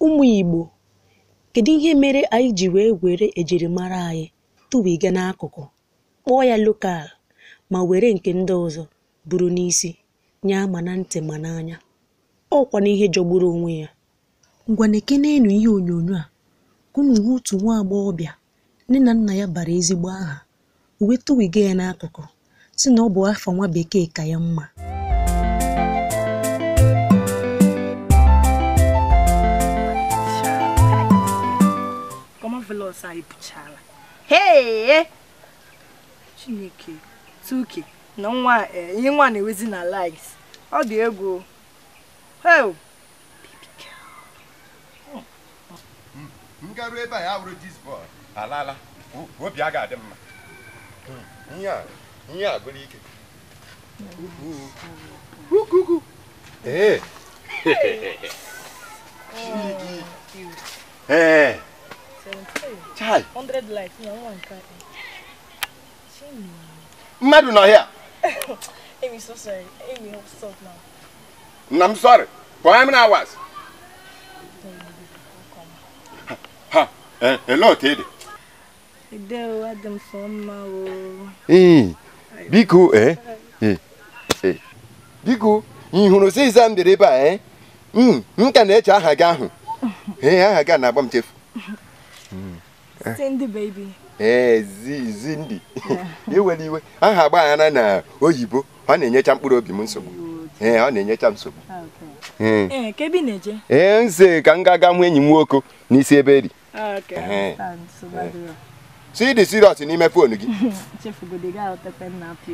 Ụmụ Igbo, kedu ihe mere anyị ji wee were ejirimara anyị tụwiga n'akụkụ, kpọọ ya lokal ma were nke ndị ọzọ buru n'isi, nyaa ma na ntị ma n'anya? Ọ kwa n'ihe jọgburu onwe ya. Ngwa nekeneenụ ihe onyonyo a ka unu hụ otu nwa agbọghọbịa Nne na nna ya bara ezigbo aha, o wee tụwiga ya n'akụkụ, sị na ọ bụ afa nwa bekee ka ya mma. Kọmavelọs anyị pụchara. Hee! Chineke, Tuke na nwa a, eh, ihe nwa na-ewezi na likes. Ọ dị egwu. o. Heo! m garuo ebe a ya wụrụ this boy alaala obi a ga-adị mma ihe a gwụrụ ike ee ee chai mmadụ nọ ya nna m sorry pụọ m na awas ha eh, ele otu ị dị biko ee eh, eh, eh. biko ị hụrụ sister m bịara ebe a ee hmm, m ka na-eche aha gị ahụ ee aha gị na-agba m chefu hmm. Cindy baby. ee Cindy iwere iwe aha agbaghara na oyibo ọ na-enyecha mkpụrụ obi m nsogbu ee ọ na-enyecha nsogbu ah, ee eh, eh, nze ka m ga-aga hụ enyi m nwoke n'isi ebe eri ah, eh. ị dị serious n'ime foonu gị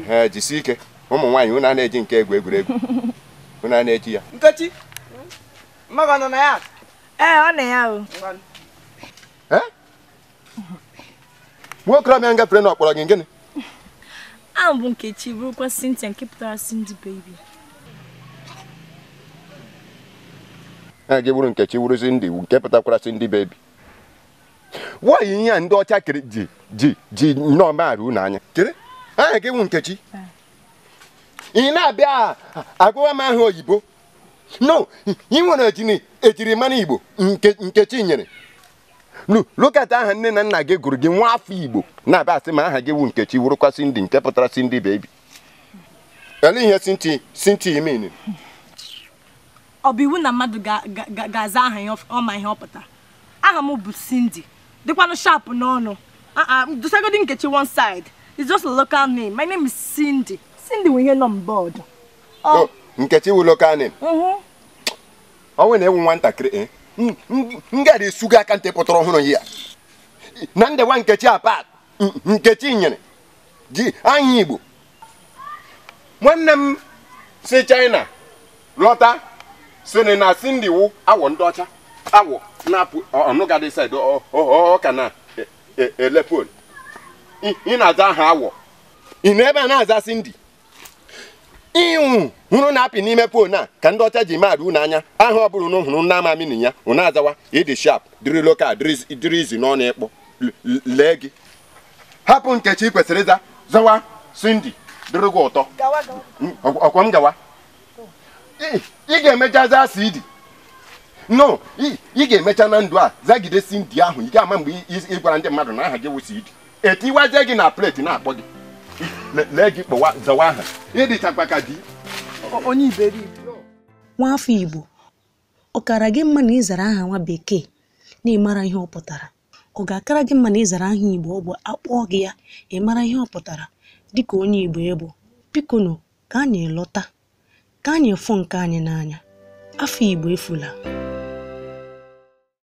ee jisi ike ụmụ nwaanyị ụna na-eji nke a egwu egwuregwu ụna na-eji ya nkechi mama gị nọ na ya ee ọ nọ ya o eh? nwokorobịa gafere na ọ kpọrọ gị gịnị aha m bụ nkechi bụrụkwa Cynthia nke pụtara Cindy baby aha gị bụrụ nkechi wụrụ Cindy nke pụtakwara Cindy baby nwaanyị ihe a ndị ọcha kere ji ji ji nnọọ maara unu anya kere aha gị wụ nkechi ị na-abịa agwa m aha oyibo no ị nwere ejini ejirimara igbo nke Nkechinyere Lu- look at aha nne na nna gị gụrụ gị nwa afọ igbo na-abịa asị m aha gị wụ nkechi wụrụkwa Cindy nke pụtara Cindy baby ele ihe Cindy Cindy I mean ọ bụ iwu na mmadụ ga- ga- ga- ga-aza aha ya ọf- ọ ma ihe ọ pụta aha m bụ Cindy dịkwanụ sharp n'ọnụ Ah, ah, dosagodi nkechi one side it's just a local name my name is Cindy Cindy nwe ihe nọ on board Ọ. nkechi wụ local name Mhm. ọ nwanne ị wụ nwatakịrị eh? M- m- m gara esu gị aka ntị pụtara ọhụrụ ya na ndewa nkechi apat m- nkechinyere ji aha igbo nwanne m si china lọta sịrị na cindy wụ awọ ndị ọcha awọ na-apụ ọnụgadị said ọka na e- e- elepol ị na-aza aha awọ ị nọ ebe a na-aza cindy ihe unu hụrụ na-apị n'ime phone a ka ndị ọcha ji maadụ unu anya aha ọ bụla unu hụrụ na amami na ya unu azawa ị dị sharp dịrị local dịrị easy n'ọnụ ịkpọ lee gị hapụ nkechi ị kwesịrị ịza zawa cindy dịrị gị ụtọ ọkwa m gawa ị ga-emecha za CD no ị ga-emecha na ndụ a zagide cindy ahụ ị ga-ama mgbe ị gwara ndị mmadụ na aha gị wụ CD e tiwazie gị na plate na-akpọ gị Le- lee gị kpọwa zawa aha ị dịchakwa ka di onye iberibe nwa afọ igbo ọ kara gị mma na ị zara aha nwa bekee na ị mara ihe ọ pụtara ọ ga-akara gị mma na ị zara aha igbo ọ bụ a kpọọ gị ya ị mara ihe ọ pụtara dịka onye igbo ị bụ biko nụ ka anyị lọta ka anyị fụ nke anyị n'anya afa igbo efula